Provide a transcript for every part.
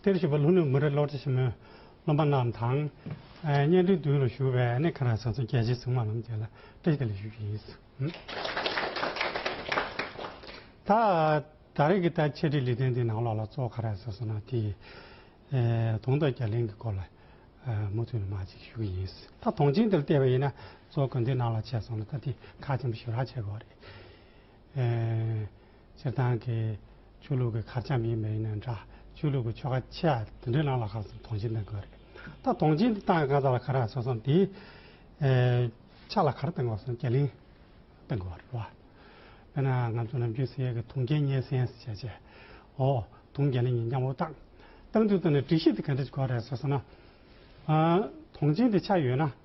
དེར་བཞུགས་པ་ལྷུན་ནུས་མུ་རེ་བློ་བྲལ་ཆེན་མོའི་སློབ་མ་རྣམས་དང། གཉེན་འདུན་འདུས་ལ་བཞུགས་པའི་གནས་ཁང་རང་སངས་རྒྱས་རྗེ་བཙུན་མ་རྣམས་བཅས་ལ་བཀྲ་ཤིས་བདེ་ལེགས་ཞུ་རྒྱུ་ཡིན། ད་ད་རེས་ཀྱི་ལྟར་འཆད་ཁྲིད་ལས་དོན་འདི་ནང་ལོགས་ལ་གཙོ་བོ་ག་རེ་ཟེར་སོང་ན་དེ། དོང་སྟོད་རྒྱ་གླིང་གི་སྐོར་ལ་མུ་མཐུད་ནས་མ་ཅིག་ཞུ་གི་ཡིན། ད་དོང་ཆེན་འདིར་བལྟས་པ་ཡིན་ན་གཙོ་བོ་དགོན་འདིའི་ནང་ལ་འཆད་སོང་ན་ད་དེ་ཁ་ཆེན་པོ་ཞིག་རག་འཆད་དགོས་པ་རེད། སྤྱིར་བཏང་གི་ཆོས་ལུགས་ཀྱི་གར་འཆམ་ཡིན་མ་ཡིན་ནི་འདྲ། ཆོས་ལུགས་ཀྱི་ཆོ་ག་ཆེ་ཡང་དེ་འདྲའི་ནང་ལ་གང་ཙམ་དོང་སྤྱི་གཏང་དགོས་རེད། ད་དོང་སྤྱི་གཏང་གང་ཙམ་ལ་ག་རང་སོ་སོ་དེའི་ཕྱག་ལ་གར་གཏང་དགོས་སམ་རྒྱ་གླིང་གཏང་དགོས་རེད་བ། དཔེར་ན་ང་ཚོ་ནམ་རྒྱུན་ཟེར་ཡས་ཀྱི་དོང་རྒྱལ་གཉེར་སེན་ཟེར་བྱས་རྗེས་འོ་དོང་རྒྱལ་ལ་ཉིན་འགྱངས་བོ་གཏང། གཏང་དུས་དོན་ནི་སྒྲིག་གཞི་དེ་ག་འདྲ་ཞིག་དགོས་རེད་ཟེར་སོང་ན། དོང་སྤྱི་དེ་ཆགས་ཡོད་ན།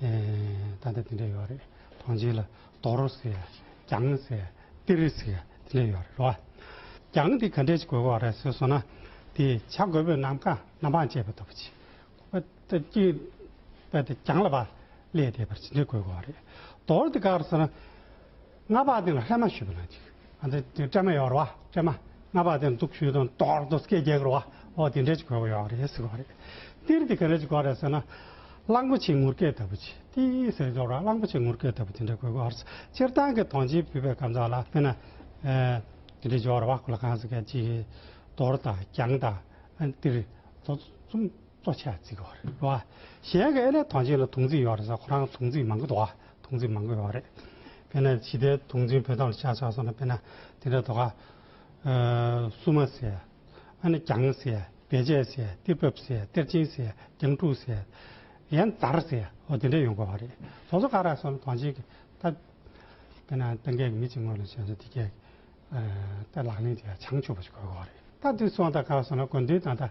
ད་ལྟ་དེ་འདྲ་ཡོད་རེད་ཐང་ཆེན་ལ་དོག་རོ་ཟེར་གྱང་ཟེར་གཏེར་རི་ཟེར་དེ་འདྲ་ཡོད་རེད་རེད་བ། གྱང་དེ་ག་འདྲ་ཞིག་དགོས་པ་རེད་ཟེར་སོང་ན་དེ་བྱ་རྒོད་པོས་ནམ་མཁའ་ནམ་འཕང་བཅད་པ་ལྟ་བུ་ཅིག་བསྟབས་ཀྱིན་པ་དེ་གྱང་ལ་བ་ཀླད་དེ་བར་ཇི་འདྲ་དགོས་པ་རེད། དོག་རོ་དེ་ག་རེད་ཟེར་ན། རྔ་པ་དེ་ལ་སླད་མ་ཞུས་པ་ན་ཅིག། ཨ་འདི་དེ་སྤྲད་མ་ཡོད་རེད་བ། སྤྲད་མ། རྔ་པ་དེ་འདུག་ཞུས་དང་དོག་རྡོ་སྐད་རྒྱག་རེད་བ། ཨོ་དེ་འདྲས་ཅིག་གོ་གོ་ཡོད་རེད་ཟེར་གོ་རེད། ཏིར་དེ་ག་རེ་ཅིག་གོ་རེད་ཟེར་ན། གླང་པོ་ཆེའི་ངུར་སྐད་ལྟ་བུ་ཅིག་ཏི་ཟེར་རྒྱོབ་ར་གླང་པོ་ཆེའི་ངུར་སྐད་ལྟ་བུ་དེ་འདྲས་གོ་གོ་ཨར། སྤྱིར་བཏང་གི་དོང་ཆེན་བུད་པའི་གམ་ཚག་ལ་དཔེར་ན། ཨེ། དེ་འདྲས་རྒྱོབ་རེད་བ་ཁོ་ལ་གང་ཟེར་ག་ཅིག། དོར་དང་རྒྱང་དང། ཏིར། ལོ། ཙུམ། གཙོ་ཆེ་བ་ཅིག་གོ་རེད་བ། གཞན་གི་ཨེ་ལས་དོང་ཆེན་ལ་དུང་རྩིས་ཡོད་རེད་ཟེར་ཁོ་རང་དུང་རྩིས་མང་གི་འདུག་བ། དུག་འཛིན་མ་དགོས་བ་རེད། དཔེར་ན་ཕྱི་ལྟའི་དུག་འཛིན་བོད་དག་ལ་བྱ་ཆོག་སོང་ན་དཔེར་ན་དེ་འདྲ་དོ་ཁ། སུ་མ་ཟེར། ཨ་ནི་གྱང་ཟེར། བེ་ཆད་ཟེར། གཏེར་བབ་ཟེར། གཏེར་ཆེན་ཟེར། གྱང་དྲུག་ཟེར། ཡན་རྩར་ཟེར། འོ་དེ་འདྲ་ཡོང་དགོས་བ་རེད། སོ་སོ་ཁ་རག་སོང་ན་དོང་ཆེན་གྱི་ད། དཔེར་ན་ཏང་གེ་གི་མི་གཅིག་ངོས་ལ་བྱོན་ཟོ་དེ་གས། ད་ལག་ལེན་དེ་ཡང་བྱང་ཆུབ་པ་ཞིག་དགོས་དགོས་བ་རེད། ད་དུས་སོང་ད་ཁ་སོང་ན་དགོན་འདུས་དང་ད།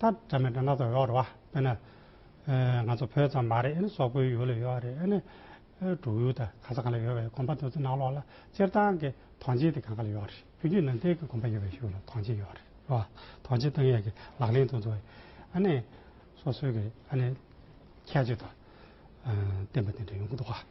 ད་འདྲ་མི་འདྲ་སྣ་ཚོགས་ཡོད་རེད་བ། དཔེར་ན། ང་ཚོ་བོད་ཙམ་མ་རེད། སོག་པོའི་ཡུལ་ལ་ཡོད་རེད། འབྲུག་ཡུལ་དང་ག་ས་གང་ལ་ཡོད་པའི་གོམ་པ་དོན་ཚོད་ནང་ལོགས་ལ་སྤྱིར་བཏང་གི་དོན་ཆེན་དེ་གང་ག་ལ་ཡོད་རེད། བོད་བརྒྱུད་ནང་བསྟན་གྱི་གོམ་པ་ཡོད་པའི་ཤུགས་ལ་དོན་ཆེན་ཡོད་རེད་བ། དོན་ཆེན་བཏང་ཡས་ཀྱི་ལག་ལེན་དུ་འཛུགས་ཡས། སོ་སོའི་གི་ཁྱད་ཆོས་དང། བསྟན་པ་དེ་འདྲ་ཡོང་གི་འདུག་བ།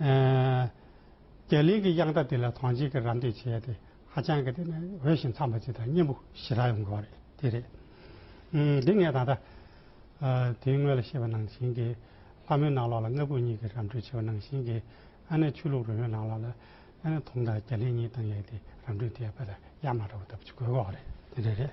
རྒྱ་གླིང་གི་དབྱངས་རྟ་དེ་ལ་ཐང་ཅིག་གི་རམ་འདེགས་བྱས་ཏེ་ཧ་ཅང་གི་དེ་ནི་འོས་ཤིང་འཚམས་པ་ཅིག་དང་སྙན་པོ་ཞེ་དྲག་ཡོང་གི་བ་རེད་དེ་རེད། འདི་ངས་ད་ལྟ་དེའི་སྔོན་ལ་ཤེས་པ་ནང་བཞིན་གྱི་ལྷ་མོའི་ནང་ལོགས་ལ་ལྔ་བུ་གཉིས་ཀྱི་རམ་འཕྲུལ་བྱས་པ་ནང་བཞིན་གྱི་ཨ་ནེ་ཆོས་ལུགས་རོལ་མོའི་ནང་ལོགས་ལ་ཨ་ནེ་དུང་དང་རྒྱ་གླིང་གཉིས་དང་ལས་དེ་རམ་འཕྲུལ་དེ་ཡང་དཔེ་ལ་ཡ་མ་འདྲ་བ་ལྟ་བུ་ཅིག་དགོས་གི་བ་རེད་དེ་འདྲ་རེད།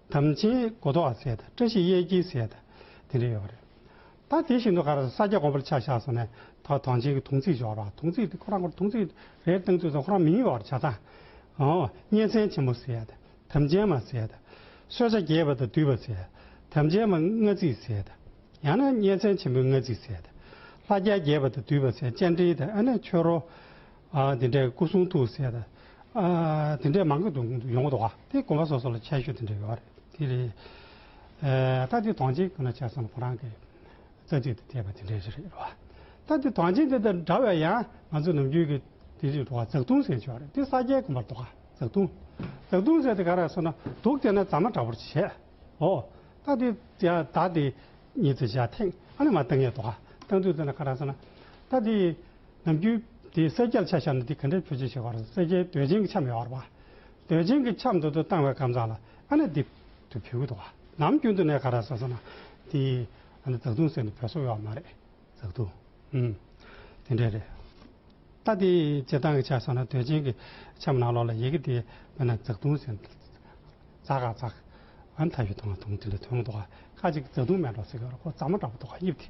དམ་ཅན་གོ་ཐོག་ཟས་དང་བཀྲ་ཤིས་གཡས་འཁྱིལ་ཟས་དང། དེ་འདྲ་ཡོད་པ་རེད། ད་དེ་བཞིན་དུ་ག་རེ་ཟ་ས་སྐྱ་གོང་བུར་ཆ་བཞག་སོང་ནས་ད་དོན་ཆེན་གྱི་དུང་ཚིགས་སྦྱོར་བ་དུང་ཚིགས་དེ་ཁོ་རང་ཁོར་དུང་ཚིགས་རེ་བཏང་ཚུལ་སོགས་ཁོ་རང་མི་ཉུང་བར་བྱ་ཙང། གཉན་ཚན་ཆེན་པོ་ཟས་དང་དམ་ཅན་མ་ཟས་དང། གསོད་བྱ་རྒྱས་པ་དང་དུད་པ་ཟས། དམ་ཅན་མ་མངལ་རྩིས་ཟས་དང། ཡང་ན་གཉན་ཚན་ཆེན་པོའི་མངལ་རྩིས་ཟས་དང། ལྷ་རྒྱལ་རྒྱས་པ་དང་དུད་པ་ཟས་སྤྱན་འདྲེན་དང་ཨ་ནེ་མཆོད་རོལ། ཨ་དེ་འདྲས་སྐུ་གསུང་ཐུགས་སྲས་དང། ཨ་དེ་འདྲས་མང་གི་འདུག་ཡོང་གི་འདུག་ཨ་དེ་དགོན་པ་སོ་སོ་ལ་ཆད་ཞུ་དེ་འདྲས་ཡོད་རེད་དེ་རེད། ད་དེ་དོང་ཆེན་གང་ན་ཆད་སོང་ཁོ་རང་གི་རྩ་ཚིག་དུ་བལྟས་པ་དེ་འདྲས་རེད་རོ། ད་དེ་དོང་ཆེན་དེ་དང་འདྲ་བའི་ཡང་ང་ཚོ་ནམ་རྒྱུན་གི་དེ་རིགས་འགྲོ་བ་འཛག་བརྡུང་ཟེར་ཆོག་རེད་དེ་ས་སྐྱའི་དགོན་པར་འདུག་ཨ་འཛག་བརྡུང། འཛག་བརྡུང་ཟེར་དེ་ག་རང་སོང་ན་དུག་བསྟེན་ན་རྫ་མ་འདྲ་བོར་བྱེད། ཨོ། ད་དེ་ཡང་ད་དེ་ཉིད་དུ་བཞག་ཐེངས་ཨ་ནི་མ་བཏང་ཡས་འདུག་ཨ་བཏང་དུས་དེ་ན་ག་རང་སོང་ན། ད་དེ་ནམ་རྒྱུན་དེའི་གསལ་རྒྱལ་ཆ་བཞག་ནས་དེ་ག་འདྲའི་ཕུལ་ཆེ་ཞེས་པར་གསལ་རྒྱལ་དོན་ཆེན་གྱི་ཆ་མེད་བར་བར། དོན་ཆེན་གྱི་ཆ་མདུན་དུ་བཏང་བའི་ཁམས་བཟང་ལ་ཨ་ནེ་དེ་དུས་ཕུལ་གི་འདུག་བ། ནམ་རྒྱུན་དུ་ནས་ག་ར་ཟེར་ཟེར་ན། དེ་ཨ་ནེ་ཛག་ཐུང་ཟེར་ནས་བོད་སོག་ཡོད་བ་མ་རེད། ཛག་ཐུང། འམ། དེ་འདྲས་རེད། ད་དེ་བྱེད་སྟངས་ཀྱི་ཆ་བསམ་ན་དོན་ཆེན་གྱི་ཆ་མ་ནང་ལོགས་ལ་ཡི་གེ་དེ་མེད་ན་ཛག་ཐུང་ཟེར། ཛག་ག་ཛག། ཨ་ནེ་ཐ་ཡུ་ཐུང་ཨ་ཐུང་དེ་འདྲའི་དོན་གྱི་འདུག་བ། ཁ་ཅིག་ཛག་ཐུང་མེད་འགྲོ་ཟེར་གི་ཡོད་རེད་ཁོ་ཛག་མ་འདྲ་པོ་འདུག་བ་དབྱིབས་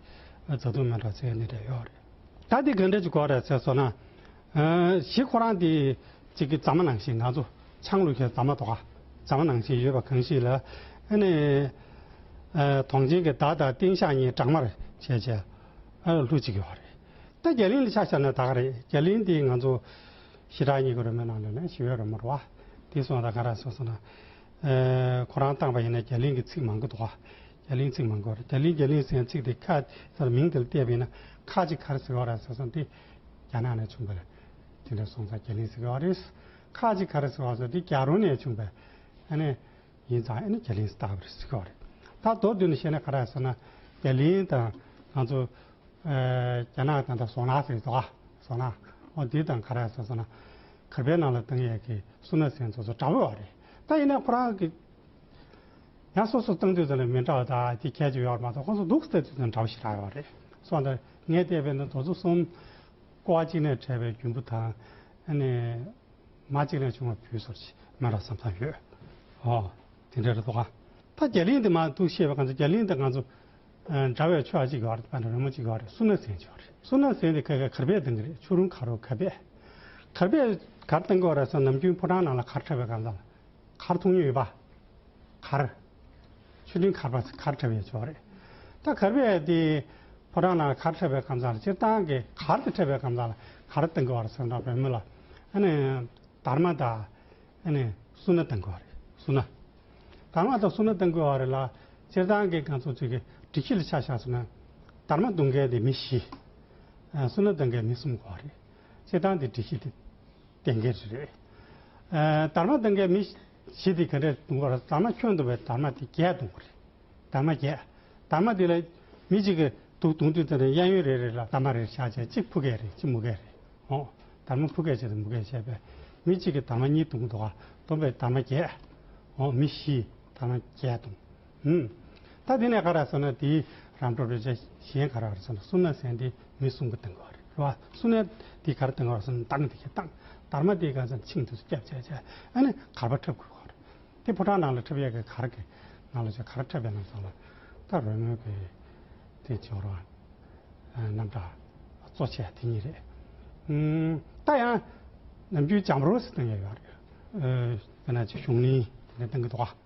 དེ་ཛག་ཐུང་མེད་འགྲོ་ཟེར་གི་ནི་འདྲས་ཡོད་རེད། ད་དེ་གང་འདྲ་ཅིག་གོ་ར་ཚེ་སོ་ན། གཞི་ཁོ་རང་དེ་གཅིག་གི་རྫ་མ་ནང་བཞིན་ང་ཚོ་ཆང་ལུག་གི་རྫ་མ་དོ་ག་རྫ་མ་ནང་བཞིན་ཡོད་པ་གང་ཞིག་ལ། ཨ་ནི། དོང་ཆེན་གྱི་དར་དང་སྟེང་ཤག་གཉིས་སྦྲགས་མར་བྱས་བྱས། ཨ་ལོ་ལྷུ་གཅིག་གི་བ་རེད། ད་རྒྱ་གླིང་ལ་ཆ་བཞག་ན་ད་ག་རེད་རྒྱ་གླིང་དེ་ང་ཚོ་ཞི་དྲག་གཉིས་ཀྱི་རོལ་མོའི་ནང་ལོས་ན་ཞི་བའི་རོལ་མོ་རེད་བ། དེ་སོང་ད་ག་ར་ཚེ་སོ་ན། ཁོ་རང་བཏང་བ་ཡིན་ན་རྒྱ་གླིང་གི་ཚིག་མང་གི་འདུག་བ། རྒྱ་གླིང་ཚིག་མང་གོ་རྒྱ་གླིང་རྒྱ་གླིང་ཟེར་ཚིག་དེ་ཁ་ཟེར་མིང་དེ་ལ་བལྟས་པས་ན་ཁ་ཅིག་གར་ཟེར་བ་ར་ཟེར་སོང་སྟེ། རྒྱ་ནག་ནས་བྱུང་བས་དེ་འདྲ་སོང་ཙང་རྒྱ་གླིང་ཟེར་བ་རེད། ཁ་ཅིག་གར་ཟེར་བ་སོང་དེ་རྒྱ་རོ་ནས་བྱུང་བས་ཨ་ནི་ཡིན་ཙང་ཨེ་ནི་རྒྱ་གླིང་ཟེར་བ་རེད་ཟེར་གི་བ་རེད། ད་མདོར་བསྡུས་ནས་བཤད་ན་ག་ར་ཟེར་ན་རྒྱ་གླིང་དང་ང་ཚོ་རྒྱ་ནག་དང་ད་ཟོ་ན་ཟེར་གི་བ་ཟོ་ན་འོ་དེ་དང་ག་ར་ཟེར་སོང་ན་གར་པའི་ནང་ལ་ཏང་ཡག་གི་སུ་ན་ཟེར་ཚོ་ཚོ་འདྲ་བོ་བ་རེད། ད་ཡིན་ན་ཁོ་རང་གི། ཡང་སོ་སོ་སྟངས་དུས་ཚོད་ལ་མི་འདྲ་བ་དག་གི་ཁྱད་ཅིག་ཡོད་པ་མ་གཏོགས་ཁོ་ཚོ་འདུག་སའི་དུས་ཚོད་འདྲ་བོ་ཞིག་ཆགས་ཡོད་པ་རེད། སོགས་འདིར་ངས་བལྟས་པའི་ནི་དོ་ཚུགས་གསུམ། ཀོ་བ་གཅིག་ནས་བྲལ་བའི་རྒྱུན་བུ་དང། མ་གཅིག་ནས་བྱུང་བའི་བུ་སོགས་ཀྱི་མི་འདྲ་ས་མཚམས་ཡོད། ཨོ། དེ་འདྲའི་རེ་དོགས་ཨང། ད་རྒྱ་གླིང་འདི་མ་གཏུགས་ཤེས་པའི་ཁ་ཚོད་རྒྱ་གླིང་དང་ང་ཚོ་འདྲ་བའི་ཆོས་ཨ་གཅིག་ཡོད་རེད་བན་རོལ་མོ་གཅིག་ཡོད་རེད་སུ་ན་ཟན་གཅིག་ཡོད་རེད་སུ་ན་ཟན་དེ་ག་གའི་གར་པས་འདང་གི་རེད་ཆུ་རུང་གར་རོ་གར་པས། གར་པས་གར་བཏང་གི་ཡོད་རེད་སོགས་ནམ་རྒྱུན་ཕོ་བྲང་ནང་ལ་གར་འཁྲབ་པའི་གང་ཟག་ལ། མཁར་མཐོང་ཉུལ་ཡོད་པ། མཁར། ཆུ་འབྲིང་མཁར་པ་ཚོས་མཁར་ཁྲབ་ཡོད་ཆོག་རེད། ད་གར་པས་དེ། ཕོ་བྲང་ནང་མཁར་ཁྲབ་པའི་ཁམས་ཚང་ལ་སྤྱིར་བཏང་གི་མཁར་དེ་ཁྲབ་པའི་ཁམས་ཚང་ལ་མཁར་བཏང་དགོས་བར་སེམས་ཁྲང་བོད་མི་ལ། ཨ་ནི། དར་མ་དང། ཨ་ནི། སུ་ན་བཏང་དགོས་བ་རེད་སུ་ན། དར་མ་དང་སུ་ན་བཏང་དགོས་བ་རེད་ལ། སྤྱིར་བཏང་གི་གངས་ཚོགས་ཚུད་ཀྱི་སྒྲིག་གཞི་ལ་ཆ་བཞག་སུ་ན། དར་མ་བཏང་མཁན་དེ་མི་བཞི། སུ་ན་བཏང་མཁན་མི་གསུམ་དགོས་བ་རེད། བྱེད་སྟངས་དེ་སྒྲིག་གཞི་དེ་གཏན་འཁེལ་རེད། དར་མ་གཏན་འཁེལ་མི་བྱེད་དེ་ག་རེ་གཏོང་བར་དར་མ་ཁྱོད་འདུག་པའི་དར་མ་དེ་བརྒྱད་གཏོང་གི་རེད། དར་མ་བརྒྱད། དར་མ་དེ་ལ་མི་གཅིག་གིས་དུག་གཏོང་དུས་དེ་ནས་གཡས་གཡོན་རེ་རེ་ལ་དར་མ་རེ་རེ་བཞག་བྱས་གཅིག་ཕུག་གས་རེད་གཅིག་མུ་གས་རེད། ཨོ། དར་མ་ཕུག་གས་བྱས་དང་མུ་གས་བྱས་པས་མི་གཅིག་གིས་དར་མ་གཉིས་གཏོང་དུག་གཏོང་པའི་དར་མ་བརྒྱད། ཨོ། མི་བཞིས་དར་མ་བརྒྱད་གཏོང། ཧུམ། ད་དེ་ནས་ག་ར་སོང་ན་དེ་རམ་འགྲོ་རེད་གཞན་ག་ར་སོང་ན་སུ་ན་སན་དེ་མི་གསུམ་གི་སྟེང་གི་བ་རེད་བ་སུ་ན་དེ་ག་ར་སྟེང་གི་བ་སུ་ན་དང་དེ་ག་དང་དར་མ་དེ་ག་ས་མཆིང་དུ་སྐྱབས་བྱས་བྱས་ཨ་ནི་གར་བ་འཁྲབ་དགོས་བ་རེད་དེ་ཕོ་བྲང་ནང་ལ་འཁྲབ་ཡས་གི་གར་གི་ནང་ལ་ཆ་ག་ར་འཁྲབ་པའི་ནང་སོང་ལ་ད་རོལ་མོ་གི་དེ་ཆོ་ར་རྣམ་གྲ་གཙོ་ཆས་དེ་གཉིས་རེད་ཧུམ། ད་ཡང་ནམ་རྒྱུན་བྱམས་རོ་སི་སྟེང་གི་བ་རེད་ག་ན་ཆུ་གཞུང་གླིང་དེ་ནས་སྟེང་གི་བ།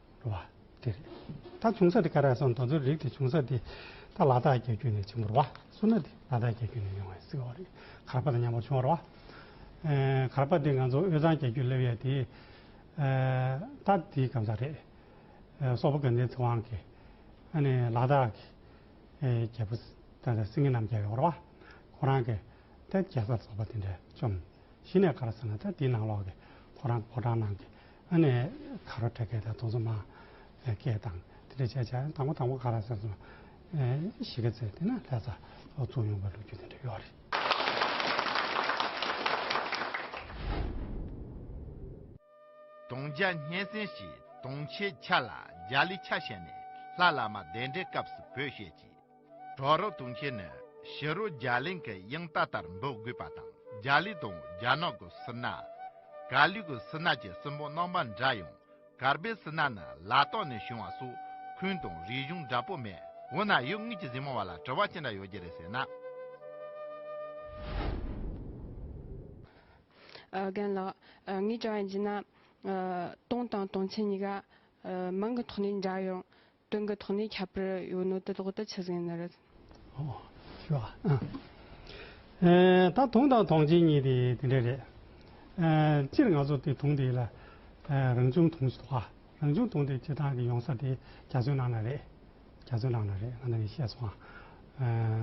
བ། དེ་རེད། ད་ཆུང་ས་དེ་ཀ་ར་སོང་ད་ཚོད་རིགས་དེ་ཆུང་ས་དེ་ད་ལ་དག་རྒྱ་ཁྱུ་ནས་ཆེན་པོར་བ། སུ་ན་དེ་ལ་དག་རྒྱ་ཁྱུ་ནས་ཡོང་བའི་སི་ཁོ་རེད། གར་པ་དང་མཉམ་པོར་ཆུང་བར་བ། གར་པ་དེ་ང་ཚོ་དབུས་གཙང་རྒྱ་ཁྱུ་སླེབས་ཡས་དེ། ད་དེའི་སྐམ་ས་རེད། སོག་པོ་གན་དྷའི་ཚེ་དབང་གིས། ཨ་ནི་ལ་དག་གི་རྒྱལ་པོ། ད་ད་སིང་ངེ་རྣམས་རྒྱལ་བའི་བར་བ། ཁོ་རང་གིས། ད་རྒྱལ་སར་སོག་པོ་དེ་འདྲ་བཅོམ། གཞི་ནས་ག་ར་ཟེར་ན་ད་དེའི་ནང་ལོགས་ཀྱི་ཁོ་རང་ཕོ་བྲང་ནང་གི་ཨ་ནེ་ག་རོ་དྲེ་སྐད་དང་དུང་སོ་མ་སྐད་དང་དེ་འདྲ་བྱས་བྱས་དང་པོ་དང་པོ་ག་ར་ཟེར་སོང་གཞི་ཀ་ཚེ་དེ་ན་ལྷས་ས་ལོགས་བཙུགས་ཡོང་པའི་ལོ་རྒྱུས་དེ་འདྲ་ཡོད་རེད། དུང་རྒྱ་སྙན་སེང་ཞེས་དུང་ཆེ་ཆ་ལ་རྒྱ་ལི་ཆ་བཤད་ནས་ལྷ་བླ་མ་གདན་འདྲེན་སྐབས་སུ་བོད་བཤད་ཀྱི། གྲོག་རོགས་དུང་ཁྱེད་ནི་ཕྱི་རོལ་རྒྱ་གླིང་གི་དབྱིངས་རྟ་ལྟར་འདོགས་དགོས་པ་དང་རྒྱ་ལི་དང་རྒྱ་ནག་གི་སི་ན། ག་ལུས་ཀྱི་སི་ན་བཅས་སྲིན་པོ་རྣམ་པ་འདྲ་ཡང་གར་པའི་སི་ན་ནི་ལ་དྭགས་ནས་བྱུང་བ་སོགས་ཁུལ་དང་རིག་གཞུང་འདྲ་པོ་མེད། འོ་ན་ཡུལ་དངོས་ཀྱི་གཟིགས་མོ་བ་ལ་དྲི་བ་ཅི་འདྲ་ཡོད་རྒྱུ་རེད་ཟེར་ན། རྒན་ལགས། ངའི་དྲི་བ་ཡིན་གྱི་ན། སྟོང་དང་སྟོང་ཆེན་གཉིས་ཀ་མིང་གི་ཐོག་ནས་འདྲ་ཡང། དོན་གྱི་ཐོག་ནས་ཁྱབ་པར་ཡོད་ནོ་དེ་ལོག་ལྟ་ཆུ་ཟན་ནི་རེད། ད་དུང་དང་དུང་ཅན་གཉིས་དེ་དེ་འདྲ་རེད། སྤྱིར་ང་ཚོ་དེ་དུང་དེ་ལ་རང་བྱུང་དུང་ཞེས་གཏོགས། རང་བྱུང་དུང་དེ་བྱེ་ཐང་གི་ཡོང་ས་དེ་རྒྱ་མཚོའི་ནང་ན་རེད། རྒྱ་མཚོའི་ནང་ན་རེད་ང་ནང་གིས་བཤད་སོང།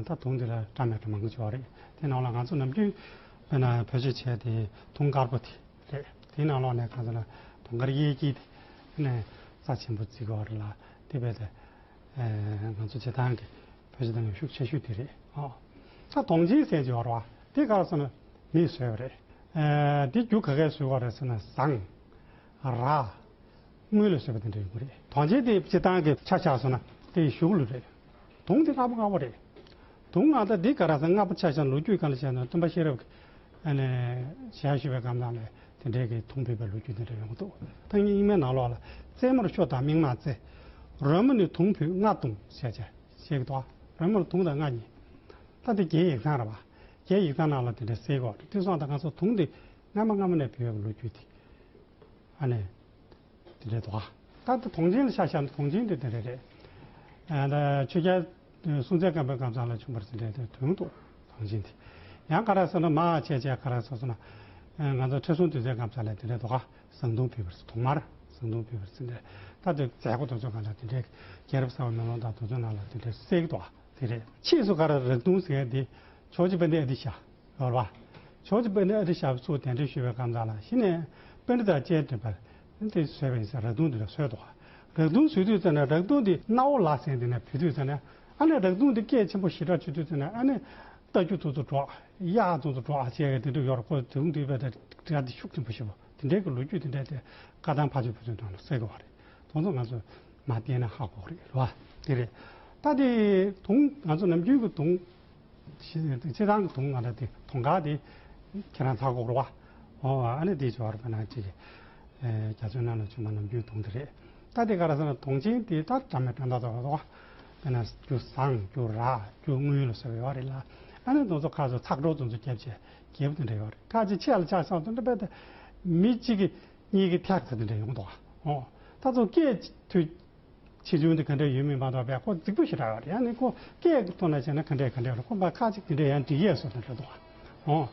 ད་དུང་དེ་ལ་བཀྲ་མེད་བཀྲ་མ་མགོ་ཅོག་རེད། དེའི་ནང་ལ་ང་ཚོ་ནམ་རྒྱུན་དཔེར་ན་བོད་ཆས་བྱས་དེ་དུང་དཀར་པོ་དེ། རེད། དེའི་ནང་ལོགས་ནས་གང་ཟེར་ན་དུང་དཀར་གཡས་སྐྱིད་དེ་ནས་རྩ་ཆེན་པོ་བརྩིགས་བ་རེད་ལ་དེ་བས་ད་ང་ཚོ་བྱེ་ཐང་གི་བོད་བྱེ་ཐང་གི་ཤུགས་ཆེ་ཤོས་དེ་རེད་ཨོ། ད་དོང་སྦྱིན་སྲེག་ཅེས་བར་བ་དེ་ག་རེ་ཟེར་ན་མིས་བཟོས་བ་རེད། དེ་རྒྱུ་ག་གས་བཟོས་བ་རེད་ཟེར་ན་ཟངས། ར། དངུལ་ལས་བཟོས་པ་དེ་འདྲ་ཡིན་དགོས་རེད། དོང་སྦྱིན་དེ་བྱེ་ཐང་གི་ཆ་ཆགས་བཟོས་ན་དེ་ཞུགས་ལུགས་རེད། དུང་དེ་དཀར་པོ་དཀར་པོ་རེད། དུག་ལྔ་དང་དེའི་ཀ་ར་ས་ལྔ་པོ་ཆ་ཤས་ལོ་རྒྱུས་གང་ལ་བྱས་ན་སྟོན་པ་ཤེས་རབ་ཀྱིས་ཞལ་ཞུ་བའི་སྒམ་ནང་ལས་དེ་འབྲེལ་གྱི་དུང་ཕུད་པའི་ལོ་རྒྱུས་འདི་འདྲ་ཡོང་གི་འདུག་ཐག་ཉེ་གཉིས་མའི་ནང་ལོགས་ལ་རྩེ་མོར་ཤོ་དང་མིག་མང་རྩེ། རོལ་མོ་ནི་དུང་ཕུད་ལྔ་དུང་ཞེས་བྱ། ཞེས་ཀྱི་དོག་རོལ་མོར་དུང་དང་ལྔ་གཉིས། ལྟ་དེ་རྒྱའི་ཡིག་ཚང་ར་བ། རྒྱའི་ཡིག་ཚང་ནང་ལ་དེ་འདྲ་གསལ་གོ་ཏི་སོགས་དང་ང་ཚོ་དུང་དེ་སྔ་མ་སྔ་མོ་ནས་ཕུད་པའི་ལོ་རྒྱུས་དེ་འདྲའི་དོག། ལྟ་དེ་དུང་ཆེན་ལ་ཤ་ཤ་ནི་དུང་ཆེན་དེ་འདྲ་རེད། ཆོས་རྒྱལ་དུས་སྲུང་ཚད་བརྐམ་པའི་སྐམ་ས་ལ་བྱུང་བར་ཟིན་འཕྲལ་དུས་ཐུང་དུ་ཐང་ཆེན་དེ་ཡང་ཀ་ར་སོ་ན་མ་ཨ་ཆད་ཆད་ཀ་ར་སོ་སོ་ན། ང་ཚོ་ཁྲི་སྲོང་དུས་ཚོད་སྐམ་ས་ལ་དེ་འདྲའི་དོ་ཁ་བཟང་ཐུང་ཕུལ་བར་ཟིན་ཐོག་མར་བཟང་ཐུང་ཕུལ་བར་ཟིན་འཕྲལ་ད་དུས་མཛད་སྒོ་དོ་ཚོད་གང་ལ་དེ་འདྲའི་རྒྱལ་རབས་གསར་བ་མེ་ལོང་དང་དུས་ཚོད་ནང་ལ་དེ་འདྲའི་གསལ་གྱི་དོ་ཨ་དེ་རེད། ཕྱིས་སུ་ཀ་ར་རག་ཐུང་ཟེར་མཁན་དེ་ཕྱོགས་ཀྱི་དཔོན་ཏེ་ཨ་ཏི་ཤ་ཡོར་བ། ཕྱོགས་ཀྱི་དཔོན་ཏེ་ཨ་ཏི་ཤ་བ་ཚོས་དེ་འདྲའི་ཤུལ་བའི་སྐམ་ས་ལ་ཕྱིན་ནས་དཔོན་རི་དང་བཅས་བསྡུས་པར་དེ་ཟོས་པའི་ཚེ་རག་དུང་དེ་ལ་ཟོས་དོ། རག་དུང་ཟོས་དུས་ཙམ་ན་རག་དུང་དེ་རྣ་བོ་ལག་ཟན་དེ་ན་བུད་དུས་ཙམ་ན། ཨ་ནེ་རག་དུང་དེ་སྐད་ཆེན་པོ་ཞི་དྲག་བྱེད་དུས་ཙམ་ན་ཨ་ནེ། རྟ་རྒྱུག་དུང་དུ་འགྲོ། གཡག་ཨ་དུང་དུ་འགྲོ་ཨ་ཅེས་དེ་འདྲ་ཡོད་རེད་ཀོ་དུང་དུས་པའི་དགྲ་དེ་ཤུགས་ཆེན་པོ་ཞེས་པ་དེ་འདྲའི་གི་ལོ་རྒྱུས་དེ་འདྲ་དེ་བཀའ་ཐང་ཕ་ཆེན་བུ་ཆེན་ཐང་ལ་གསལ་གི་བ་རེད་དོང་ཙོ་ང་ཚོས་མ་བལྟས་ན་ཧ་གོ་རེད་ལོ། དེ་རེད། ད་དེ་དུང་ང་ཚོ་ནམ་རྒྱུན་གི་དུང། ཁྱེད་རང་གི་དུང་ང་ར་དེ་དུང་ག་དེ་ཁྱེད་རང་ཚ་གོག་རོ་བ་ཨོ་ཨ་ནི་དེ་ཅོ་ར་པ་ན་ཅི་གི་རྒྱ་མཚོའི་ནང་ན་ཆུ་མ་ནམ་རྒྱུན་དུང་དེ་རེད་ད་དེ་ག་ར་ས་ན་དུང་ཆེན་དེ་ད་དྲ་མེད་དྲ་མདའ་དོ་ར་དོ་བ་ན་རྒྱུ་བཟང་རྒྱུ་ར་རྒྱུ་དངུལ་ལ་སོགས་ཡོད་བ་རེད་ལ་ཨ་ནི་དུང་ཚོ་ཁ་ཚོ་ཚག་གྲོག་དུང་ཚོ་རྒྱབ་ཆེ་རྒྱབ་དེ་འདྲ་ཡོད་རེད་ཁ་ཆེ་ཆེ་ལ་ཆག་ཆག་དུང་འདྲ་པ་དེ་མི་གཅིག་གི་གཉིས་ཀི་ཐེག་ཚ་དེ་འདྲ་ཡོང་དོ་བ་ཨོ་ད་ཚོ་སྐད་དུ། ཆེ་ཆུང་དེ་ག་འདྲ་ཡོད་མིན་མ་གཏོགས་པའི་ཁོ་རྫིག་པོ་ཞེ་དྲག་ག་རེ་ཡང་ནི་ཁོ་སྐད་ཀྱི་ཐོག་ན་བཤད་ན་ག་འདྲའི་ག་འདྲའི་རུང་ཁོ་འབའ་ཁ་ཅིག་དེ་འདྲའི་ཡང་འབྲི་ཡས་སོ་ཐོན་འདྲ་འདུག་ཨང།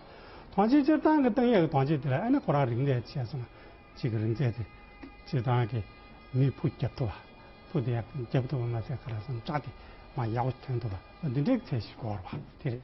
ཐང་ཅིག་སྤྱིར་བཏང་གི་ཏང་ཡག་གི་ཐང་ཅིག་དེ་ལ་ཨེ་ན་ཁོ་རང་རིག་གནས་ཆེ་སོང་ཅིག་གི་རིག་རྩལ་དེ་སྤྱིར་བཏང་གི་མིས་ཕུ་རྒྱབ་ཐུབ་བ་ཕུ་དེ་ཡང་རྒྱབ་ཐུབ་པ་མ་ཟད་ག་རང་སོང་བཀྲ་དེ་མ་ཡག་པོ་ཐོན་ཐུབ་པ་འདི་འདྲའི་ཚད་ཞིག་གོ་ར་བ་དེ་རེད།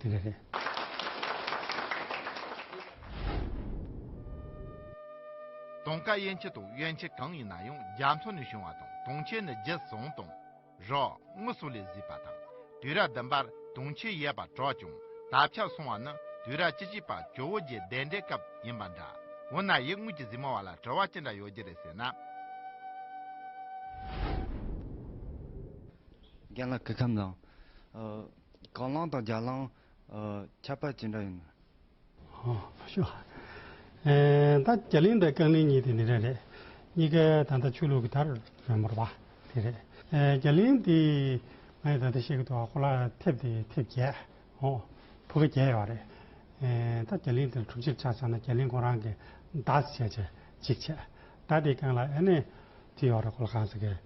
དེ་འདྲ་རེད། དུང་དཀར་ཡན་ཆད་དང་གཡོན་ཆད་གང་ཡིན་ན་ཡང་རྒྱ་མཚོ་ནས་བྱུང་བ་དང་དུང་ཆེན་ནི་རྗེ་བཟང་དང། རོགས་དངུལ་སོགས་ལས་བཟོས་པ་དང། དུས་རབས་བདུན་པར་དུང་ཆེན་ཡལ་བར་གྲགས་ཀྱང་དར་ཆགས་སོང་བ་ནི་དུས་རབས་བཅུ་གཅིག་པར་ཇོ་བོ་རྗེ་གདན་འདྲེན་སྐབས་ཡིན་པ་འདྲ། འོ་ན་ཡིག་དངོས་ཀྱི་གཟིགས་མོ་བ་ལ་བྲེལ་བ་ཅི་འདྲ་ཡོད་ཀྱི་རེད་ཟེར་ན། རྒན་ལགས་སྐུ་ཁམས་བཟང། དགང་བླང་དང་རྒྱ་བླང། ཁྱད་པར་ཇི་འདྲ་ཡིན། ད་རྒྱ་གླིང་དང་རྐང་གླིང་གཉིས་དེ་ནི་རེད་རེད། གཉིས་ཀ་ད་ལྟ་ཆོས་ལུགས་ཀྱི་དར་རོད་མོ་རུ་བ་དེ་རེད། རྒྱ་གླིང་དེ་ང་ཡི་ད་ལྟ་བཤད་ཀྱི་འདུག་ཧོར་ལ་ཐེབས་དེ་ཐེབས་བརྒྱད། ཧོ། བུ་ག་བརྒྱད་ཡོད་བ་རེད། ད་རྒྱ་གླིང་དེར་དྲུག་ཅིག་ཆགས་ཚར་ན་རྒྱ་གླིང་ཁོ་རང་གི་བདག་བྱས་བྱས་གཅིག་བྱས། ད་དེའི་རྐང་ལ་ཨེ་ནས་དེ་ཡོད་རེད་ཁོ་ལ་གང་ཟེར་གི།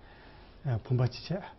བུམ་པ་གཅིག་བྱས།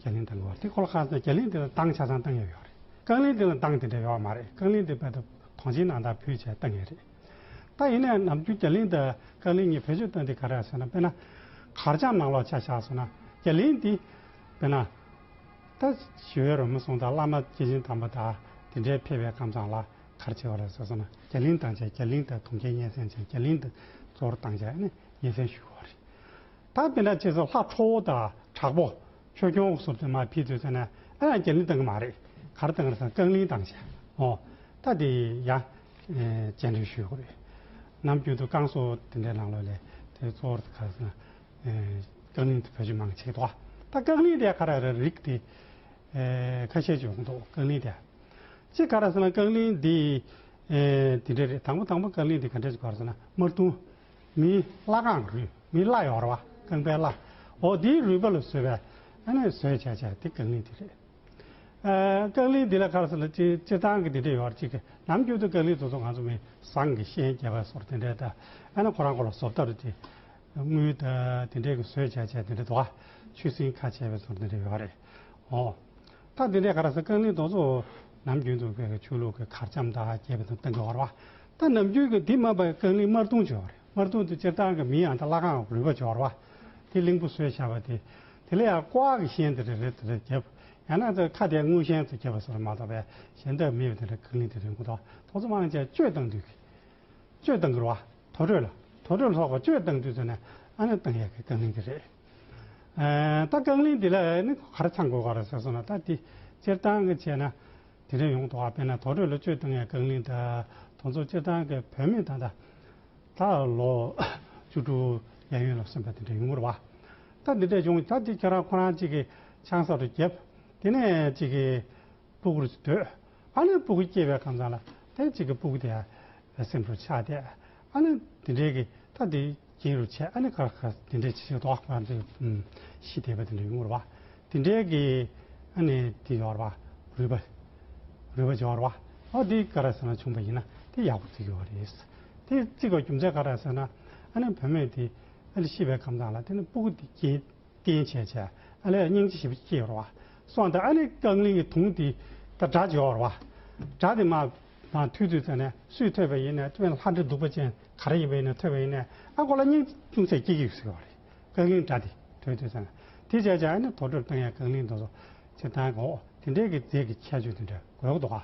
རྒྱ་གླིང་དང་ལུང་བ་དེ་གོ་ལ་ཁ་ཟེར་ན་རྒྱ་གླིང་དེ་ལ་ཏང་ཆ་ཚང་གཏང་ཡས་ཡོད་རེད་རྐང་གླིང་དེ་ལ་ཏང་དེ་འདྲ་ཡོད་བ་མ་རེད་རྐང་གླིང་དེ་བོད་དུ་ཐོངས་ཆེན་ནང་དང་ཕུད་བྱས་ཏང་ཡས་རེད་ད་ཡིན་ནའི་ནམ་རྒྱུན་རྒྱ་གླིང་དང་རྐང་གླིང་གཉིས་བེད་སྤྱོད་གཏོན་དེ་ག་རེད་ཟེར་ན་དཔེར་ན་གར་སྤྱང་ནང་ལོག་ཆ་བཞག་སོང་ན་རྒྱ་གླིང་དེ་དཔེར་ན་ད་ཞི་བའི་རོལ་མོ་གསུང་དང་བླ་མ་སྐྱེས་ཆེན་དམ་པ་དང་དེ་འདྲའི་ཕལ་བའི་ཁམས་ཚང་ལ་གར་བྱས་བ་རེད་ཟེར་སོང་ན་རྒྱ་གླིང་ཏང་བྱས་རྒྱ་གླིང་དང་དུང་རྒྱལ་སྙན་སེང་བྱས་རྒྱ་གླིང་དུ་གཙོ་བོར་ཏང་བྱས་ནས་སྙན་སེང་ཞུ་བ་རེད་ད་དེ་འདྲ་བྱས་ཚེ་ལྷ་ཁྲོ་བོ་དང་དྲག་པོ། ཆོས་སྐྱོང་འོག་ཟུར་དུ་མ་ཕེབས་ཚུལ་ཟེར་ན་ཨེ་རང་རྒྱལ་ལིང་བཏང་གི་མ་རེད། གར་བཏང་རེད་ཟེར་ན་རྐང་ལིང་བཏང་བྱས་ཨོ། ད་དེ་ཡང་རྗེས་འདྲི་ཞུས་དགོས་རེད། ནམ་རྒྱུན་དུ་རྐང་སོ་དེ་འདྲའི་ནང་ལོགས་ལས་དེ་གཙོ་བོར་གར་ཟེར་ན་རྐང་ལིང་དེ་བོད་ཆས་མང་ཆེད་དོ། ད་རྐང་ལིང་དེ་ཁ་ར་ར་རིགས་དེ་ཁ་ཤས་ཀྱི་འོག་འདུག་རྐང་ལིང་དེ། ཅི་ག་ར་ཟེར་ན་རྐང་ལིང་དེ་དེ་འདྲ་རེད་དང་པོ་དང་པོ་རྐང་ལིང་དེ་ག་འདྲ་ཞིག་གོ་ར་ཟེར་ན་དམར་ཐུང། མིའི་བརླ་རྐང་རུས་མིའི་བརླ་ཡོར་བ་རྐང་པའི་བརླ་འོ་དེའི་རུས་པ་ལ་བཟོས་པའི་ཨ་ནེ་བཟོས་བྱས་བྱས་དེ་རྐང་གླིང་དེ་རེད། རྐང་གླིང་འདི་ལ་ཁར་སོ་ལ་སྤྱི་སྤྱི་ཚང་གི་འདི་འདྲས་ཡོར་ཅིག་གི་ནམ་རྒྱུན་དུ་རྐང་གླིང་དུ་ཚོ་ང་ཚོ་མི་བཟང་གི་ཤན་རྒྱས་པ་སོར་དེ་འདྲས་ད་ཨ་ནེ་ཁོ་རང་ཁོ་ལ་བཟོ་བལྟ་རུ་དེ་དངུལ་ད་དེ་འདྲས་གི་བཟོས་བྱས་བྱས་དེ་འདྲས་དོ་ཆུ་སྲིན་ཁ་བྱས་པའི་སོར་དེ་འདྲས་ཡོར་རེད་འོ། ད་དེ་འདྲས་ཁར་སོ་རྐང་གླིང་དུ་ཚོ་ནམ་རྒྱུན་དུ་ཁོས་ཆུ་ལུག་གི་གར་འཆམ་ད་རྒྱས་པ་དང་སྟང་གི་ཡོར་བ་ད་ནམ་རྒྱུན་གྱི་དེ་སྨྲ་པའི་རྐང་གླིང་དམར་གདུང་སྦྱོར་བ། དམར་གདུང་དུ་སྤྱིར་བཏང་གི་མིང་ཡང་དང་བླ་གའང་རུས་པ་སྦྱོར་བ། དེ་གླིང་བུ་སོས་བྱ་བ་དེ། དེ་ལ་ཡང་ཀོ་ཨག་གི་ཤན་དེ་རེ་རེ་དེ་རེ་གྱེར། ཡང་ན་ཁ་དེའི་དངུལ་ཤན་དུ་གྱེར་བ་སོགས་ལ་མ་གཏོགས་པའི་གཞན་དག་མེད་པས་དེ་འདྲ་རྐང་གླིང་དེ་རེ་མགོ་ཐོག་ཐོག་གཙོ་དམངས་ཅན་སྤྱོད་བཏང་དུས་ཀྱི། སྤྱོད་བཏང་གི་རུ་བ། དོ་གྲོད་ལ། དོ་གྲོད་ལ་སོགས་པ་སྤྱོད་བཏང་དུས་ཚོད་ནས་ཨ་ནི་བཏང་ཡས་ཀྱི་རྐང་གླིང་དེ་རེ། ད་རྐང་གླིང་དེ་ལ་ནི་གར་ཚང་དགོས་ག་རེ་ཟེར་སོང་ན་ད་དེ་སྤྱིར་བཏང་གི་བྱས་ན། དེ་རིང་ཡོངས་རྫོགས་པས་ན་དོགས་འདྲི་ལོ་ཆོས་དང་ངའི་བཀའ་ལིང་དང་དོན་ཚོགས་སྤྱི་དང་གི་བོད་མི་དང་ད་ལྟ་ལོ་བཅུ་དྲུག་ཡན་ཡོད་ལ་སོན་པ་དེ་འདྲ་ཡིན་ངོར་བ་ད་འདི་འདྲས་བྱུང་ད་འདི་ཁྱོད་རང་ཁོ་རང་གཅིག་གི་ཆང་ས་རུ་བརྒྱབ་དེ་ནས་གཅིག་གི་སྤུ་གུར་སྡོད་ཨ་ལས་སྤུ་གུ་སྐྱེས་པའི་ཁམས་ཚང་ལ་དེ་གཅིག་གི་སྤུ་གུ་དེ་ཡང་སེམས་སུ་ཆགས་ཏེ་ཨ་ནི་འདི་འདྲའི་གི་ད་འདི་སྐྱིན་རུ་ཆད་ཨ་ནི་ཁར་ཁར་འདི་འདྲའི་ཆི་ཆི་ཏོག་ཨ་ནི་ཤི་དེ་བ་འདི་འདྲའི་ངུར་བ་འདི་འདྲའི་གི་ཨ་ནི་འདི་ཡོར་བ་རུས་པ་རུས་པ་འབྱོར་བ་ཨོ་འདི་ཀ་ར་ཟེར་ན་ཆུང་བ་ཡིན་ན་འདི་ཡག་པོ་བརྩི་དགོས་བ་རེད་འདི་བརྩི་དགོས་རྒྱུ་མཚན་ཀ་ར་ཟེར་ན་ཨ་ནི་བུད་མེད་འདི་ཨ་ལི་ཤི་བའི་ཁམས་དང་ལ་དེ་ནི་སྤུ་གུ་འདི་སྐྱིན་སྐྱིན་ཆད་ཆད་ཨ་ལི་ཨ་སྙིང་རྗེ་ཞིག་བ་སྐྱེ་ཡོར་བ་སོང་འདི་ཨ་ནི་རྐང་གླིང་གི་དུང་འདི་ད་སྒྲ་འབྱོར་བ་སྒྲ་འདི་མ་ནང་ཐུག་དུས་ཙམ་ནས་སུས་ཐོས་པ་ཡིན་ནས་དཔོན་ལྷ་འདྲེ་གདུག་པ་ཅན་ག་རེ་ཡིན་པ་ཡིན་ནས་ཐོས་པ་ཡིན་ནས་ཨ་ཁོ་ལ་སྙིང་ཅུང་ཟད་སྐྱིད་སྐྱིད་ཟེར་བ་རེད་ཀང་གླིང་སྒྲ་དེ་ཐོས་དུས་ཙམ་ནས་དེ་བྱས་བྱས་ཨ་ནི་དོ་དྲོད་བཏང་ཡས་ཀང་གླིང་འདུག་སོ་ཅི་ལྟང་གོ་དེ་འདྲས་ཀི་རྫས་ཀི་ཁྱད་ཆོས་དེ་འདྲས་དགོས་ཀི་འདུག་ཨ་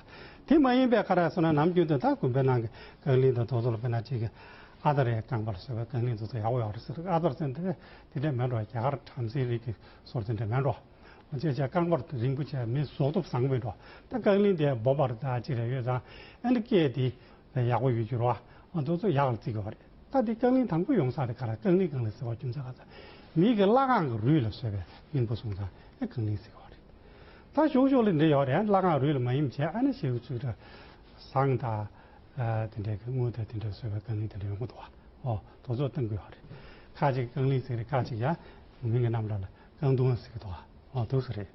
དེ་མ་ཡིན་པས་ཁ་རག་སོ་ན་ནམ་རྒྱུན་དུ་ད་དགོན་པའི་ནང་གི་ཀང་གླིང་དང་དོ་ཟོ་ལ་དཔེར་ན་ཅིག་གི་ཨ་ད་རེས་ཀང་པ་ལ་བཟོས་པའི་ཀང་གླིང་དུ་ཟོ་ཡག་པོ་ཡག་པོ་རེད་ཟེར་ཨ་ཟོར་ཟེར་འདི་འདྲས་མེད་འགྲོ་ཨ་རྒྱ་གར་བྲམ་ཟེའི་རིགས་ཀི་ཟོར་དེ་འདྲས་མེད་འགྲོ། བཅད་བཅད་རྐང་པར་དུ་རིན་པོ་ཆེ་མི་བཟོ་སྟོབས་བཟང་པོའི་འགྲོ། ད་བཀའ་ལན་དེ་འབོད་པར་ད་ཅི་རེ་ཡོད་ཙང་ཨེ་འདྲ་སྐད་དེ། ཡག་པོ་ཡོད་འགྱུར་བ། ཚོགས་གཙོ་ཡག་ལ་བརྩི་དགོས་པ་རེད། ད་དེ་བཀའ་ལན་དང་པོ་ཡོང་ས་དེ་ག་རང་བཀའ་ལན་གང་ལེགས་ཟེར་བ་རྒྱུ་མཚན་ག་ཚ། མིག་གི་བླ་གང་གི་རུས་ལ་བཟོས་པའི་མིང་པོ་སོང་ཙང་ཨེ་གང་ལེགས་ཟེར་གི་བ་རེད། ད་ཞོག་ཞོག་ལས་འབྲས་ཡོག་རེད་བླ་གང་རུས་ལ་མ་ཡིན་བྱས་ཨ་ན་ཞེ་གི་ཚུལ་གྲ། བཟང་ད། དེ་འདྲས་གི་དངུལ་དེ་དེ་འདྲས་བཟོས་པའི་བཀའ་ལན་དེ་འདྲས་ཡོང་གི་འདུག་བ། ཨོ། དོ་ཚོགས་བཏང་དགོས་བ་རེད། ཁ་ཅིག་བཀའ་ལན་ཟེར་རེད་ཁ་ཅིག་ཡང། མིང་གི་རྣམ་གྲ་ལ། ཀང་ཏུང་ཨ་སི་ཀི་ཐོག་ཨ་ཐུག་སི་རེད།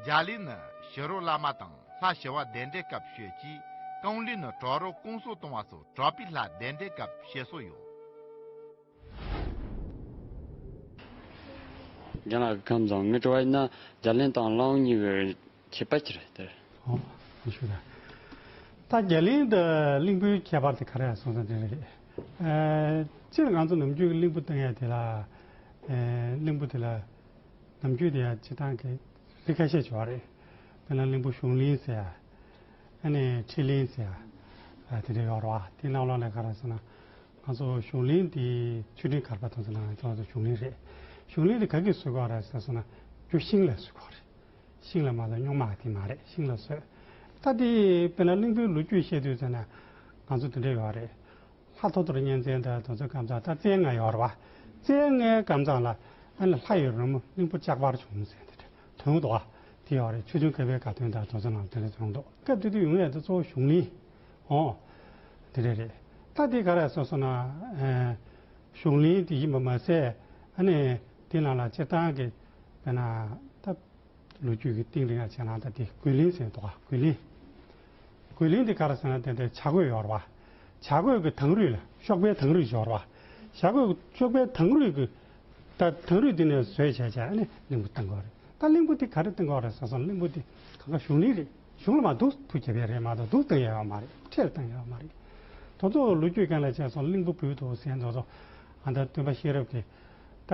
རྒྱ་ལི་ནི་ཞི་རོ་བླ་མ་དང་ལྷ་བྱེ་བ་གདན་འདྲེན་སྐབས་ཤོད་ཀྱིས་ཀང་ལི་ནི་གྲོག་རོ་སྐོང་གསོ་གཏོང་བ་སོགས་གྲོག་པའི་ལྷ་གདན་འདྲེན་སྐབས་བྱེད་སྲོལ་ཡོད། རྒན་ལགས་ཀྱི་ཁམས་བཟང་མི་བྲོ་བ་ཡིན་ན་རྒྱ་ལིན་དང་བླ་འོང་གཉིས་ཀྱི་ཁྱད་པར་ཅི་རེད་ཟེར། ད་རྒྱ་ལིན་དང་གླིང་བུའི་ཁྱད་པར་དེ་ག་རེ་ཡང་གསུངས་ས་དེ་རེད། སྤྱིར་ང་ཚོ་ནམ་རྒྱུན་གྱི་གླིང་བུ་བཏང་ཡས་དེ་ལ། གླིང་བུ་དེ་ལ་ནམ་རྒྱུན་དེ་ཡང་སྤྱིར་བཏང་གི་རིགས་ཁ་ཤས་བྱུང་བ་རེད། དཔེར་ན་གླིང་བུ་གཞུང་གླིང་ཟེར་ཡ། ཨ་ནི་ཁྲི་གླིང་ཟེར་ཡ། དེ་འདྲ་ཡོད་རེད་བ། དེ་རྣམས་ལ་ལས་ཀ་རེད་ཟེར་ན། ང་ཚོ་གཞུང་གླིང་འདི་ཆུ་འབྲིང་གར་པ་དང་ཚོ་ནང་ང་ཚོ་གཞུང་གླིང་རེད། གཞུང་གླིང་འདི་ག་གིས་བཟོས་གོ་ར་ཟེར་སོང་ན་རྒྱུ་ཤིང་ལས་བཟོས་གོ་རེད། ཤིང་ལ་མ་གཏོགས་རྙོག་མ་ག་དེ་མ་རེད་ཤིང་ལ་བཟོས། ད་ལྟའི་དཔེར་ན་གླིང་བུའི་ལོ་རྒྱུས་བཤད་དུས་ཟེར་ན་ང་ཚོ་འདི་འདྲ་ཡོད་རེད། ལྷ་ཐོ་ཐོར་གཉན་ཚལ་འདི་དང་ཚོ་སྐམ་ཚང་ད་རྩེ་ལྔ་ཡོད་རེད་བ། རྩེ་ལྔའི་སྐམ་ཚང་ལ་ཨ་ནི་ལྷ་ཡི་རོལ་མོ་གླིང་བུ་ལྕགས་པར་བྱུང་ཟེར་འདི་འདྲ་དོན་ཡོད་དོ་བ། དེ་ཡོད་རེད་ཆུ་ཆུང་ཁ་བའི་དགའ་སྟོན་ད་དང་ཚོ་ནང་དེ་འདྲ་བྱུང་འདུག་སྐབས་དེ་དུས་ཡུང་ཡ་དེ་གཙོ་བོ་གཞུང་གླིང། ཨོ། དེ་རེད་རེད། ད་དེ་ག་རེ་གསུངས་སོང་ན། གཞུང་གླེང་དེ་ཡིན་པ་མ་ཟད། ཨ་ནི་དེ་ནང་ལ་སྤྱིར་བཏང་གི་བལྟས་ན། ད་ལོ་རྒྱུས་ཀྱི་སྟེང་རིང་ལ་བྱས་ན་ད་དེ་རྒོལ་གླེང་ཟེར་འདུག་ག་རྒོལ་གླེང། རྒོལ་གླེང་དེ་ག་རེ་ཟེར་ན་དེ་འདྲའི་བྱ་རྒོད་ཡོར་བ། བྱ་རྒོད་ཀྱི་དང་རུས་ལ་གཤོག་པའི་དང་རུས་ཡོར་བ། བྱ་རྒོད་ཀྱི་གཤོག་པའི་དང་རུས་ཀྱི། ད་དང་རུས་དེ་ནས་བཟོས་བྱས་བྱས་ཨ་ནི་གླིང་བུ་བཏིང་གོ་རེད། ད་གླིང་བུ་དེ་ག་རེ་བཏིང་གོ་རེད་ཟེར་སོང་གླིང་བུ་དེ་གང་གཱ་གཞུང་གླིང་རེད། གཞུང་ལ་མ་སྡུག་ཐུགས་བསྐྱེད་པའི་རེད་མ་གཏོགས་སྡུག་བཏང་ཡ་བ་མ་རེད་ཁྲེལ་བཏང་ཡ་བ་མ་རེད་དོ་ཙོ་ལོ་རྒྱུས་གང་ལ་བྱས་སོང་གླིང་བུ་བུད་འདུག་ཟེར་འདུག་ཙོ་ཨ་འདྲ་སྟོན་པ་ཤེས་རབ་ཀྱི་ད་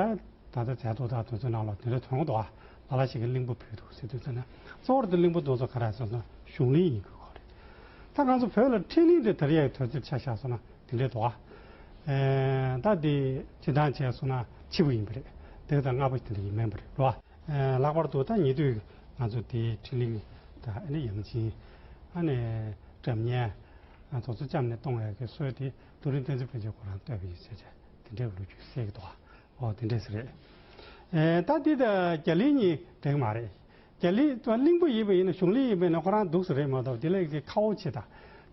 ད་ད་ཚད་དུག་དང་དུག་ཚོད་རྣམས་ལ་དེ་འདྲ་དོན་དགོ་ལ་ལ་ཞིག་གི་གླིང་བུ་བུད་འདུག་ཟེར་དུས་ཚོད་ན་གཙོ་བོར་དེ་གླིང་བུ་འདུག་ཙོ་ག་ར་ཟེར་སོང་གཞུང་གླིང་ཡིན་དགོས་གོ་རེད་ད་གང་ཚོ་བོད་ལ་ཁྲེལ་གླིང་དེ་དར་ཡ་ཡི་དོན་ཚོད་ཆ་བཞག་སོང་ན་དེ་འདྲ་དོ་ཨ་ད་དེ་བྱེད་དང་བྱས་སོང་ན་འཆི་བ་ཡིན་པ་རེད་བདུན་དང་ལྔ་པོ་དེ་འདྲ་ཡིན་མིན་པ་རེད་ལོ་ཨ། ལྷག་པར་དུ་ད་ཉེ་དུས་ང་ཚོ་དེ་ཕྲིན་ལས་དང་ཡང་སྦྱིན། གྲབས་བསྙེན། དོགས་འཚོ་བཅའམ་ནས་གཏོང་བའི་དགེ་སོས་དེ་རྡོ་རིང་བསྟན་འཛིན་དཔོན་ཆེན་ཁོ་རང་བསྟོད་པའི་ཡིག་ཆ་ཆ་དེ་འདྲའི་ལོ་རྒྱུས་གསལ་གྱི་འདུག་ཨོ་དེ་འདྲས་རེད། ད་འདི་དང་རྒྱ་ལིའི་གཉིས་འགྲེང་མ་རེད། རྒྱ་ལི་ད་གླིང་བུ་ཡིན་པ་ཡིན་ན་གཞུང་ལི་ཡིན་པས་ན་ཁོ་རང་སྡུག་ས་རེད་མ་གཏོགས་དེ་ལས་ཀྱི་ཁ་བོ་ཆེ་ད།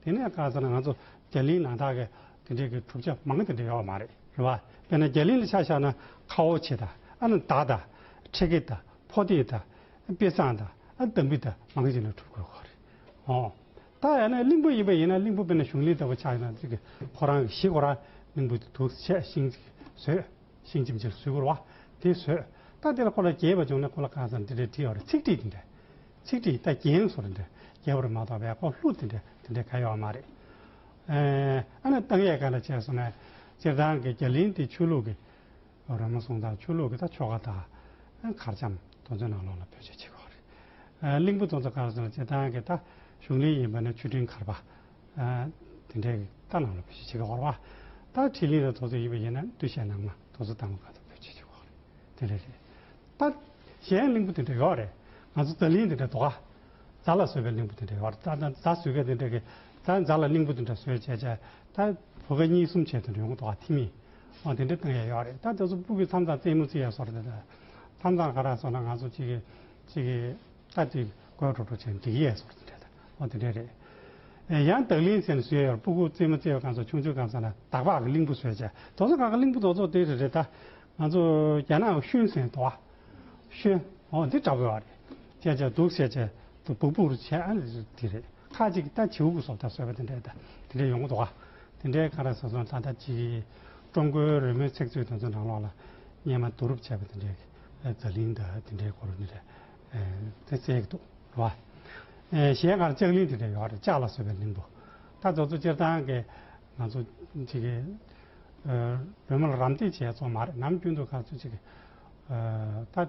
དེ་ནས་བཀག་ཚར་ང་ཚོ་རྒྱ་ལིའི་ནང་དག་གི་དེ་འདྲའི་གི་གྲུབ་ཆ་མང་དེ་འདྲ་ཡོད་བ་མ་རེད་རེད་བ། དཔེར་ན་རྒྱ་གླིང་ལ་ཆ་བཞག་ན་ཁ་ཨོ་ཆེ་དང་ཨ་ན་ད་དང་ཁྲེ་ཁེ་དང་ཕོ་རྟིང་དང་དཔེ་བཟང་དང་ཨ་དམ་བི་དང་མང་ཞིག་ལ་གྲུབ་དགོས་ཁོ་རེད་ཨོ། ད་ཡང་ན་གླིང་བུ་ཡིན་པ་ཡིན་ན་གླིང་བུ་དཔེར་ན་གཞུང་གླིང་ལྟ་བུ་ཆགས་ན་ཅིག་ཁོ་རང་གི་གཞི་ཁོ་རང་གླིང་བུ་དེ་དུག་ཆད་ཤིང་ཅིག་ཟོས་ཤིང་ཅིག་མཆིལ་སུས་བསྐུར་བ་དེ་ཟོས་ད་དེ་ལ་ཁོ་ལ་རྒྱས་པ་བྱུང་ན་ཁོ་ལ་གང་བསམ་དེ་འདྲའི་བྲིས་ཡོད་རེད་ཚིག་བྲིས་དེ་འདྲ་ཚིག་བྲིས་ད་རྒྱན་སོ་རེད་འདྲ་རྒྱས་པ་རེད་མ་གཏོགས་བས་ཁོ་ལྷུ་དེ་འདྲ་དེ་འདྲ་ག་ཡོད་བ་མ་རེད་ཨ་ནི་ཏང་གཡས་ཀ་ལ་བྱས་སོང་ནས་སྤྱིར་བཏང་གི་རྒྱ་གླིང་དེ་ཆོས་ལུགས་ཀྱི་རོལ་མོ་གསུང་དང་ཆོས་ལུགས་ཀྱི་ད་ཆོ་ག་དང་མཁར་བྱམས་གཙོ་མཛོད་ནང་ལོགས་ལ་བོད་ཆས་ཕྱེད་ཀ་བ་རེད། གླིང་བུ་གཙོ་མཛོད་ཀར་སོང་ནས་སྤྱིར་བཏང་གི་ད་གཞུང་གླིང་ཡིན་པ་ནི་ཆོས་ཁྲིན་མཁར་པ་དེ་འདྲའི་གི་ད་ནང་ལོགས་བོད་ཆས་ཕྱེད་ཀ་བ་རེད། ད་ཁྲི་གླིང་ར་མཐོ་ཚོ་ཡིན་པ་ཡིན་ན་བསྟུད་བཤད་ནང་མ་མཐོ་ཚོ་ད་མུ་ཁ་ད་བོད་ཆས་ཕྱེད་ཀ་བ་རེད་དེ་འདྲ་རེད། ད་གཞན་གླིང་བུ་དེ་འདྲ་ཡོད་རེད་ང་ཚོ་རྩ་གླིང་དེ་འདྲ་དོ་ག། རྫ་ལ་བཟོད་པའི་གླིང་བུ་དེ་འདྲའི་བར། རྫ་བཟོད་པའི་དེ་འདྲའི་གི། རྫ་ལ་གླིང་བུ་དེ་འདྲ་བཟོད་བྱས་བྱས། ད་བུ་ག་གཉིས་གསུམ་བྱས་དེ་འདྲའི་ཡོང་གི་འདུག་ཨ་ཐི་མི། ཨོ་དེ་འདྲའི་གཏང་ཡས་ཡོད་རེད་ད་དེ་ཚོ་སྤུ་གི་མཚམས་ཚང་རྩེད་མོ་རྩེ་ཡས་སོ་རེད་ད། མཚམས་ཚང་ག་ར་སོང་ན་ང་ཚོ་གཅིག་གི་གཅིག་གི་ད་དེ་དགོད་བྲོ་བྲོ་བྱས་འགྲིག་གི་ཡས་སོ་རེད་ད། ཨོ་དེ་འདྲའི་རེད། ཨེ་ཡང་བདག་གླིང་ཟེར་ནི་བཟོད་ཡས་སྤུ་གུ་རྩེ་མོ་རྩེ་ཡས་གང་ཚོ་ཆུང་ཆུང་གང་ཚོ་ན་བདག་བག་གི་གླིང་བུ་བཟོད་བྱས་དོ་ཚོ་གང་གི་གླིང་བུ་དོ་ཚོ་དེ་རེད་རེད་ད། ང་ཚོ་རྒྱ་ནག་ཤུན་ཟེར་དོ་ཨ། ཤུན། ཨོ་འདི་འདྲ་བོ་ཡོད་རེད། བཤད་བྱ་འདུག་བཤད་བྱ་དུ་བུག་བུག་རུ་བྱས་ཨ་ལས་སུ་དེ་རེད་ཁ་ཅིག་གིས་ད་བྱེའུ་བུག་སོགས་ད་ཟོས་པ་དེ་འདྲས་ད་དེ་འདྲས་ཡོང་གི་འདུག་དེ་འདྲས་གང་ར་ཟེར་སོང་ད་ལྟ་ཅིག་ཀྲུང་གོའི་རོལ་མོའི་ཚིག་མཛོད་དེ་ཚོ་ནང་ལོགས་ལ་སྙན་མ་བསྡུ་རུབ་བྱས་པ་དེ་འདྲས་གི་རྫ་གླིང་ད་དེ་འདྲས་གོ་རུ་དེ་འདྲས་དེ་བཙལ་གི་འདུག་རེད་བ། གཞན་གང་ར་ལྕགས་གླིང་དེ་འདྲས་ཡོད་རེད་ལྕགས་ལ་ཟོས་པའི་གླིང་བུ་ད་ཚོ་ཚོ་སྤྱིར་བཏང་གི་ང་ཚོ་ཅིག་གི་རོལ་མོ་ལ་རམ་འདེགས་བྱས་ཚོ་མ་རེད་ནམ་རྒྱུན་དུ་གང་ཚོ་ཅིག་གི་ད།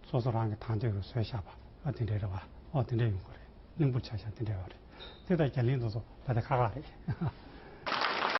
སོ་སོ་རང་གི་དང་ཆོས་ཀྱི་སྲོལ་བཞག་པ་ཨ་དེ་འདྲའི་རེད་བ་ཨོ་དེ་འདྲའི་ཡོང་གི་རེད་གླིང་བུར་ཆ་བཞག་དེ་འདྲའི་བ་རེད་དེ་ལྟར་རྒྱ་གླིང་དུ་སོ་ད་དེ་ཁ་ཁ་རེད།